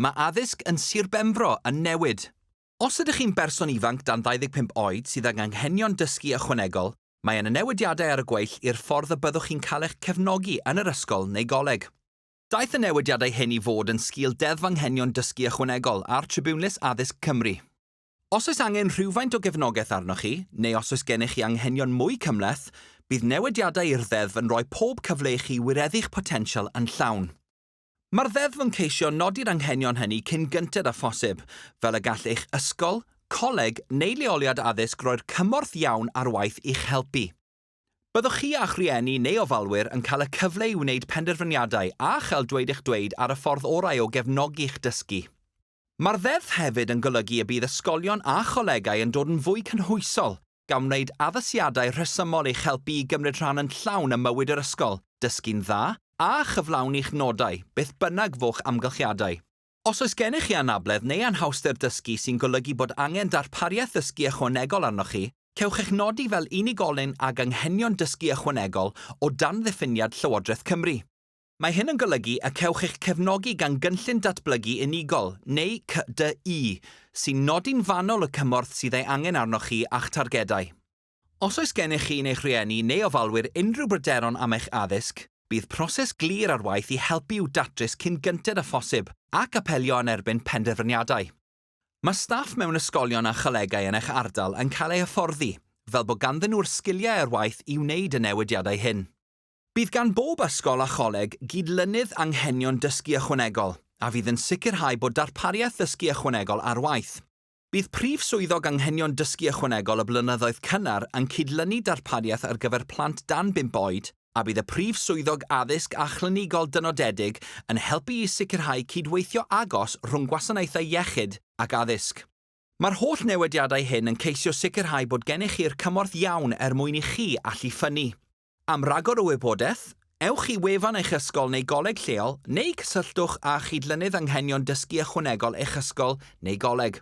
Mae addysg yn Sir Benfro yn newid. Os ydych chi'n berson ifanc dan 25 oed sydd ag anghenion dysgu ychwanegol, mae yna newidiadau ar y gweill i'r ffordd y byddwch chi'n cael eich cefnogi yn yr ysgol neu goleg. Daeth y newidiadau hyn i fod yn sgil Deddf Anghenion Dysgu Ychwanegol a'r Tribiwnlys Addysg Cymru. Os oes angen rhywfaint o gefnogaeth arnoch chi, neu os oes gennych chi anghenion mwy cymhleth, bydd newidiadau i'r ddeddf yn rhoi pob cyfle i chi wireddu'ch potensial yn llawn. Mae'r Ddeddf yn ceisio nodi'r anghenion hynny cyn gynted â phosib, fel y gall eich ysgol, coleg neu leoliad addysg roi'r cymorth iawn ar waith i'ch helpu. Byddwch chi a'ch rhieni neu ofalwyr yn cael y cyfle i wneud penderfyniadau a chael dweud eich dweud ar y ffordd orau o gefnogi'ch dysgu. Mae'r Ddeddf hefyd yn golygu y bydd ysgolion a cholegau yn dod yn fwy cynhwysol, gan wneud addasiadau rhesymol i'ch helpu i gymryd rhan yn llawn ym mywyd yr ysgol, dysgu'n dda, a chyflawni'ch nodau, beth bynnag fo'ch amgylchiadau. Os oes gennych chi anabledd neu anhawster dysgu sy'n golygu bod angen darpariaeth ddysgu ychwanegol arnoch chi, cewch eich nodi fel unigolyn ag anghenion dysgu ychwanegol o dan ddiffiniad Llywodraeth Cymru. Mae hyn yn golygu y cewch eich cefnogi gan Gynllun Datblygu Unigol, neu CDU, sy'n nodi'n fanwl y cymorth sydd ei angen arnoch chi a'ch targedau. Os oes gennych chi yn eich rhieni neu ofalwyr unrhyw bryderon am eich addysg, bydd proses glir ar waith i helpu i'w datrys cyn gynted â phosib ac apelio yn erbyn penderfyniadau. Mae staff mewn ysgolion a cholegau yn eich ardal yn cael eu hyfforddi, fel bod ganddyn nhw'r sgiliau ar waith i wneud y newidiadau hyn. Bydd gan bob ysgol a choleg gyd-lynydd anghenion dysgu ychwanegol, a fydd yn sicrhau bod darpariaeth ddysgu ychwanegol ar waith. Bydd Prif Swyddog Anghenion Dysgu Ychwanegol y blynyddoedd cynnar yn cyd-lynu darpariaeth ar gyfer plant dan bump oed, a bydd y Prif Swyddog Addysg a Chlinigol Dynodedig yn helpu i sicrhau cydweithio agos rhwng gwasanaethau iechyd ac addysg. Mae'r holl newidiadau hyn yn ceisio sicrhau bod gennych chi'r cymorth iawn er mwyn i chi allu ffynnu. Am ragor o wybodaeth, ewch i wefan eich ysgol neu goleg lleol neu cysylltwch â Chydlynydd Anghenion Dysgu Ychwanegol eich ysgol neu goleg.